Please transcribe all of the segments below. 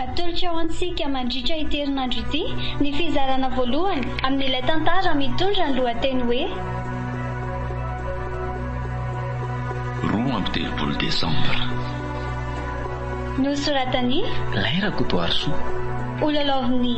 Atolotro ho antsika mandritra ity herinandro ity ny fizarana voalohany amin'ilay tantara mitondra ny lohateny hoe Roa amby telopolo Desambra. Nosoratan'i. Lahy Rakotoarisoa. Ho lalaovin'ny.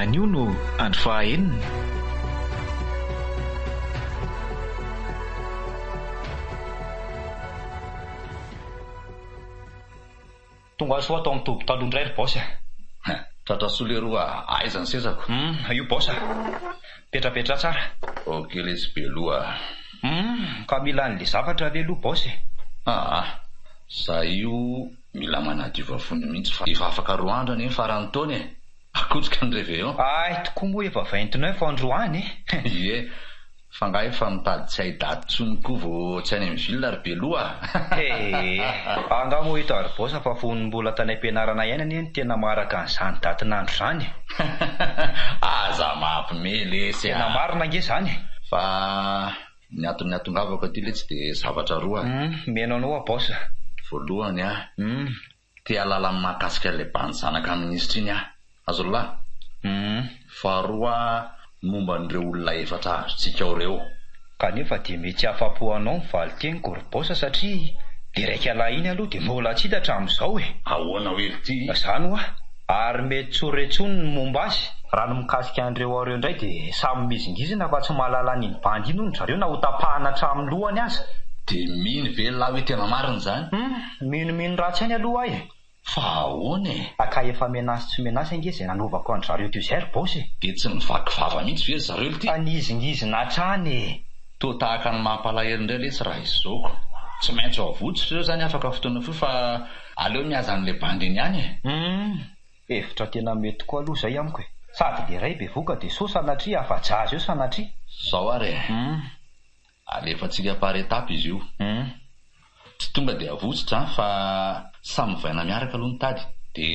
Anio no andro faha enina. Tonga soa tao amin'ny toby taloha indray ry Boss a! Tratra soa leroa a! Aiza ny sezako? Hum, io Boss a! Petrapetra tsara. Ok lesy Beloha a! Hum, ka mila an'le zavatra ve aloha Boss e? Aa, za io. Mila manadio vavony mihitsy fa efa afaka roa andro anie ny faran'ny taona e! Akotsika ny reveillon. Hay tokoa moa efa vingt-neuf androany e! Ie, fa nga efa mitady tsy hay daty tsony koa vao tsy any amin'ny ville ry beloha a! Ee, angaha moa i Tarbos fa fony mbola tany am-pianarana ihany anie no tena maharaka an'izany datin'andro izany e! Aza mampime lesy a! Tena marina ange izany e! Fa. Ny anton'ny atongavako aty letsy de zavatra roa. Hum, miheno anao aho boss a. Voalohany a, Hum. te hahalala ny mahakasika ilay bandy zanaka minisitra iny aho. Azon'lah? Hum. Faharoa a, momba an'ireo olona efatra azontsika ao ireo. Kanefa dia mety hahafapo anao ny valin-teniko ry boss satria le raikalahy iny aloha dia mbola tsy hita hatramin'izao e. Ahoana oe ry ty? Zany hoa. ary mety tsy ho re intsony ny momba azy. Raha ny mikasika an'ireo ao ireo indray dia samy mizingizina fa tsy mahalala an'iny bandy iny hono ry zareo na ho tapahana hatramin'ny lohany aza. Dia mino ve lahy hoe tena marina izany? Humm, mino mino ratsy ihany aloha aho e! Fa ahoana e? Ka ka efa menace tsy menace ange izay nanovako an-dry zareo teo izay ry boss e! Dia tsy mivaky vava mihitsy ve ry zareo lty? Fa nizingizina hatrany e! Toa tahaka ny mampalahelo indray letsy raha izao ko! Tsy maintsy ho avotsotra ireo izany afaka fotoana fohy fa. Aleo mihaza an'ilay bandy eny ihany e! Humm, hevitra tena mety koa aloha izay amiko e! Sady le ray bevoka de sao sanatria afa-jaza eo sanatria! Zao ary e! Humm. Alefantsika par étape izy io. Humm. Tsy tonga de avotsotra an, fa samy mivaina miaraka aloha ny tady, de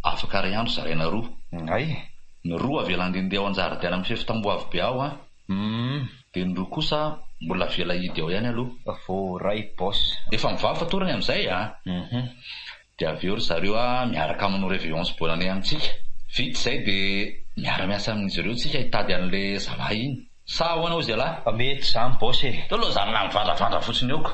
afaka ray andro zaraina roa. Hay e! Ny roa avela handehandeha ao an-jaridaina mifefy tamboho avo be ao an! Humm dia ny roa kosa mbola avela hidy ao ihany aloha vao ray boss. Efa mivaly fatorany amin'izay a! Humm dia avy eo ry zareo a miaraka manao reveillance bonne année amintsika. Vita izay dia miara miasa amin'izy ireo tsika hitady an'le zalahy iny. Sa ahoana hozy ialahy? Fa mety izany boss e! Teo aloha zany navandravandra fotsiny eo ko.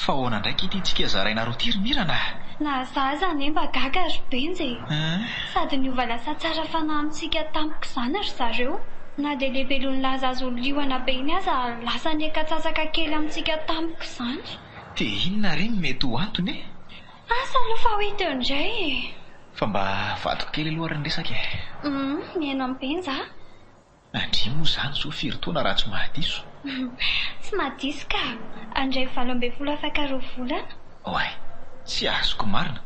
Fa ahoana ndray k'ity tsika zaraina roty ry Mirana ah! Na za aza anie mba gaga ry Benja e! Sady niova lasa tsara fanahy amintsika tampoka izany ry zareo. Na dia le Belonilaza azo liona be iny aza lasa niaka-tsasaka kely amintsika tampoka izany. Dia inona re no mety ho antony e? Asa aloha fa ho hita eo indray e! Fa mba avadiko kely aloha ary ny resaka e! Humm mihaino an'i Benja a! Andria moa izany zo firy taona raha tsy mahadiso? Tsy mahadiso ka! Andray valo ambin'ny folo afaka roa volana. Oay! Tsy azoko marina!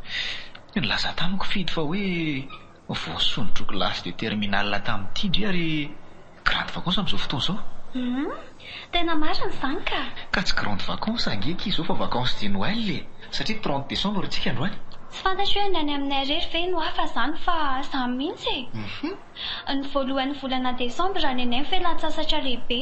Nilaza tamiko Fidy fa hoe voasonin-droa kilasy de terminale tamin'ity ndry ary e! Grande vacance amin'izao fotoana izao. Humm, tena marina izany ka. Ka tsy grande vacance ange ity izao fa vacance de Noël e! Satria trente décembre tsika androany. Tsy fantatro hoe ny any aminay rery ve no hafa izany fa za mihitsy e! Ny voalohan'ny volana décembre any anay fialantsasatra lehibe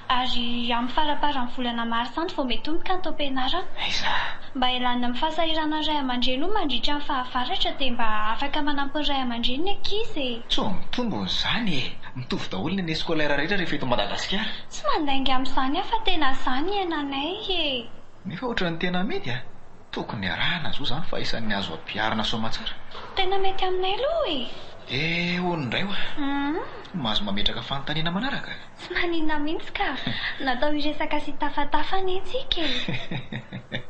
ary amin'ny faraparan'ny volana mars any vao mety homika ny taom-pianarana. Aiza? Mba hialana amin'ny fahasahiranan'ny ray aman-dreny hono mandritra ny fahavaratra dia mba afaka manampy ny ray aman-dreny ny ankizy e! Sao mitombona izany e! Mitovy daholo ny année scolaire rehetra rehefa eto Madagasikara. Tsy mandainga amin'izany aho fa tena izany ny iainanay e! Nefa ohatran'ny tena mety a! Tokony arahana zo zany fa isan'ny azo ampiharina soamatsara. Tena mety aminay aloha e! Dia hono indray wa! Humm! Mahazo mametraka fanontaniana manaraka. Tsy maninona mihitsy ka! Natao hiresaka sy hitafatafa anie tsika e! Hehehehe!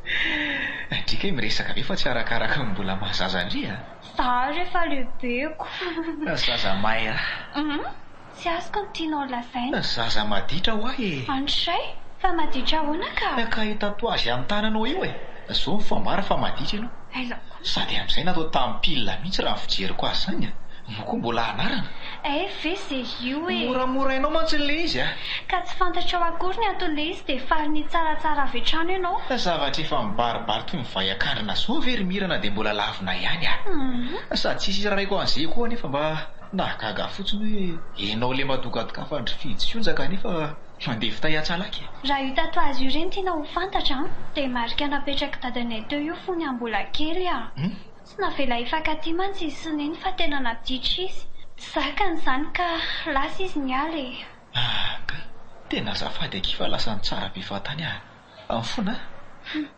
Andriaka e miresaka ve fa tsy arakaraka ny mbola maha zaza ndry a! Zaho re efa lehibeko. Zaza Maira. Humm tsy azoko ny tianao lazaina. Zaza maditra hoa e. Andrisay, fa maditra ahoana ka? Ka io tatouage amin'ny tananao io e. Zao ny fambara fa maditra ianao. Aiza koa. Sady amin'izay natao tamin'ny pile mihitsy raha ny fijeriko azy izany a. Moa koa mbola anarana? Hay ve ze io e. Moramorainao mantsy ilay izy a. Ka tsy fantatrao akory ny anton'ilay izy dia faly nitsaratsara avy hatrany ianao. Zavatra efa mibaribary toy ny vay an-kandrina zao ve ry Mira na dia mbola lavo Anao ihany ah. Sady tsisy hira raiko an'zay koa nefa mba nahagaga fotsiny hoe enao le madogadogafandry fijo sy onjaka nefa mandeha fitay atsalaky e. Raha io tatoazy io reny tiana ho fantatra an, dia marika napetrak'i dadanay teo io fony aho mbola kely ah. Tsy navela hifankatia mantsy izy sy neny fa tena nampiditra izy. Tsy zakany izany ka lasa izy niala e. Anga tena azafady akia fa lasa nitsara be fahatany ah. Amin'ny fona ah.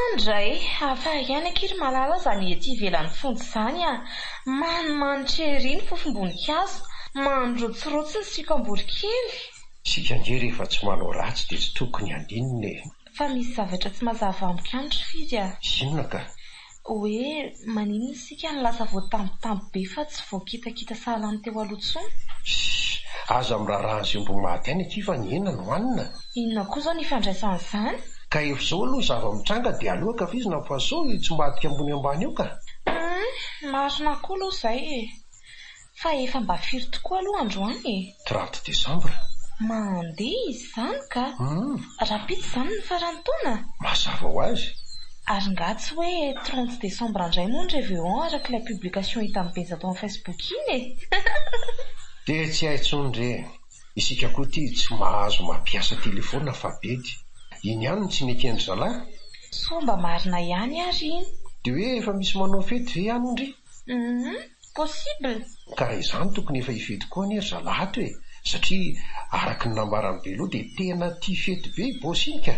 Andray, hafa ihany akia ry Malala zany ety ivelan'ny fonja izany a! Manimanitra ery ny fofom-boninkazo, mandrotsirotsy ny siokam-borikely. Isika ange rehefa tsy manao ratsy dia tsy tokony handinina e! Fa misy zavatra tsy mazava amiko ihany ry Firy a! Inona ka? Hoe maninona isika no lasa voatambitamby be fa tsy voakitakita sahala ny teo aloha intsony? Shh! Aza miraharaha an'izay omby maty any aty fa ny hena no hanina. Inona koa izao ny ifandraisan'izany? Ka efa izao aloha ny zava-mitranga dia aleo ankafizina fa sao tsy mba adika ambony ambany eo ka! Humm! Marina koa aloha izay e! Fa efa mba firy tokoa aloha androany e? Trente décembre. Mandeha izy izany ka! Rahampitso izany ny faran'ny taona? Mazava ho azy. Ary ngah tsy hoe trente décembre indray moa ny Reveon araka ilay publication hitan'i Benja tao amin'ny Facebook iny e! Dia tsy hay tsony re! Isika koa ity tsy mahazo mampiasa telephone fa bedy. Iny ihany no tsy mety endry zalahy? Soa mba marina ihany ary iny. Dia hoe efa misy manao fety ve any ndry? Humm. possible? Ka raha izany tokony efa hifety koa anie ry zalahy ato e, satria araka ny nambaran'i Belo dia tena tia fety be i boss iny ka.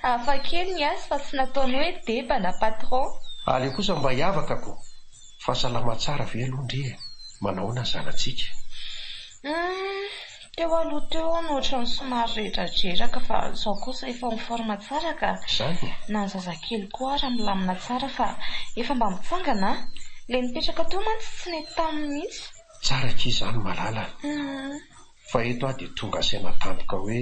Hafa kely ny azy fa tsy nataony hoe deba na patron. Aleo kosa mba hiavaka ko. Fa salama tsara ve aloha ndry e? Manahoana ny zanatsika? Humm. Teo aloha teo no ohatran'ny somary redradreraka fa izao kosa efa en forme tsara ka. Izany e! Na ny zazakely koa ara milamina tsara fa efa mba mitsangana an! Ilay nipetraka teo mantsy tsy nety taminy mihitsy. Tsara akia izany malala an! Fa eto aho dia tonga saina tampoka hoe.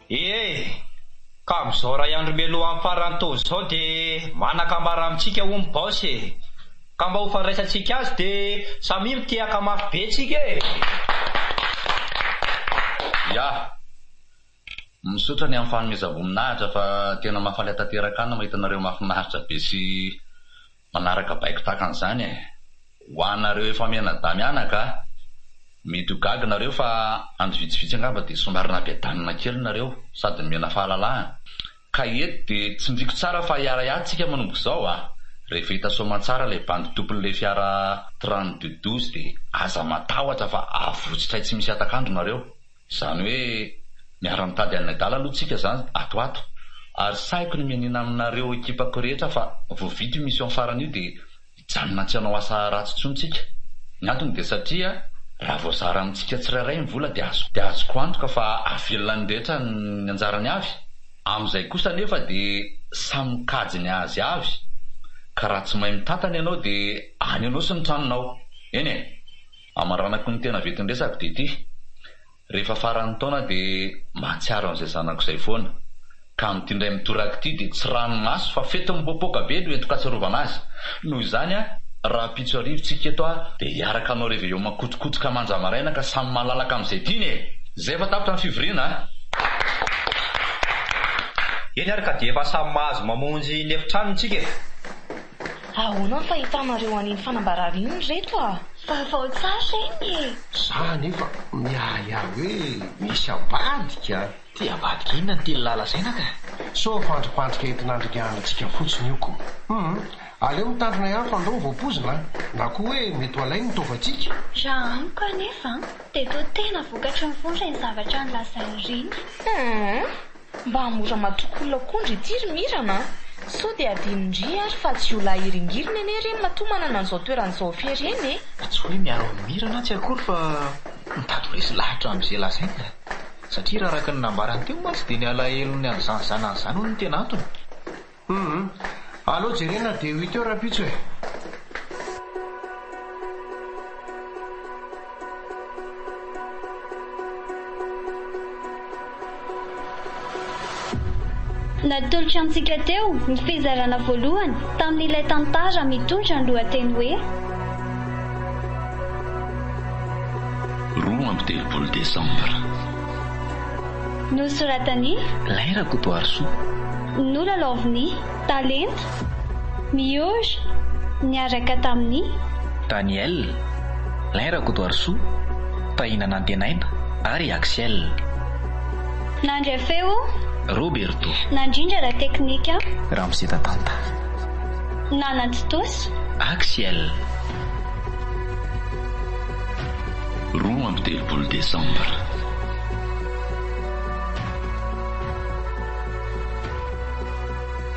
Ie, ka amin'izao iray andro mialoha hamparan'ny taona izao dia manakambara amintsika hoy ny Baosy e! Ka mba ho fandraisantsika azy dia samia mitehaka mafy be tsika e! Yah! Misaotra ny amin'ny fanomezam-boninahitra fa tena mahafaly atanteraka ahy ny mahita anareo mahafinaritra be sy Manaraka baiko tahaka an'izany e! Ho anareo efa mianadahy mianaka, mety ho gaga nareo fa andro vitsivitsy angamba dia somary nabedanina kely nareo sady nomena fahalalahana. Ka eto dia tsindriko tsara fa hiara-hiahy tsika manomboka izao a! Rehefa hita soamantsara ilay bandy tompon'ilay fiara trente-deux douze dia aza matahotra fa avotsotray tsy misy hatak'andro nareo. Izany hoe miara-mitady an'i Nadal aloha tsika izany ato ato. Ary sahiko ny mianiana aminareo ekipako rehetra fa vao vita io mission farany io dia hijanona tsy hanao asa ratsy intsony tsika. Ny antony dia satria raha voazara amintsika tsirairay ny vola dia azoko dia azoko antoka fa hahavelona ny rehetra ny anjarany avy. Amin'izay kosa anefa dia samy mikajy ny azy avy ka raha tsy mahay mitantana ianao dia any anao sy ny tranonao. Eny e! Amaranako ny tena vetin-dresako dia ity, rehefa faran'ny taona dia mahatsiaro an'izay zanako izay foana, ka amin'ity indray mitoraka ity dia tsy ranomaso fa fety mipoapoaka be no entin-katsiarovana azy. Noho izany, rahampitso hariva tsika eto aho dia hiaraka hanao reveillon makotokotoka manja maraina ka samy malalaka amin'izay tiany e! Izay efa tapitra ny fivoriana a! Eny ary ka dia efa samy mahazo mamonjy ny efitrano tsika e! Ahoana ny fahitanareo an'iny fanambarana iny ry reto a? Vaovao tsara iny e! Za anefa miahiahy hoe misy ambadika a! Ty ambadika inona no tianlah lazaina ka? Sao fandripandrika entin'Andrianantsika fotsiny io ko? Humm! Aleo mitandrina ihany fa ndao vao poizina a! Na koa hoe mety ho alainy ny taovantsika? Raha amiko anefa dia toa tena vokatry ny vondro ireny zavatra nolazainy ireny. Humm! Mba mora matokolona koa ndry ity ry Mirana a! Sao dia adino ndry ary fa tsy io lahy hiringiriny anie ireny matoa manana an'izao toerana izao hafehy ireny e! Fa tsy hoe miaro an'i Mirana atsy akory fa mitady ho resy lahatra amin'izay lazainy a! Satria raha araka ny nambarany teo mantsy dia ny alahelony an'izany zanany izany hono no tena antony. Humm aleo jerena dia huit heures rahampitso e. Natolotra antsika teo ny fizarana voalohany tamin'ilay tantara mitondra ny lohateny hoe. Roa amby telopolo desambra. Nosoratan'i. Lay Rakotoarisoa. Nolalaovin'i. Talenta. Mihory. Niaraka tamin'i. Daniel. Lay Rakotoarisoa, Tahina Nantenaina ary Axiel. Nandry feo. Roberto. Nandrindra la teknika. Ramose Tatanta. Nanantontosa. Axiel. Roa amby telopolo desambra.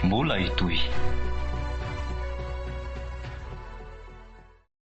Mbola hitohy.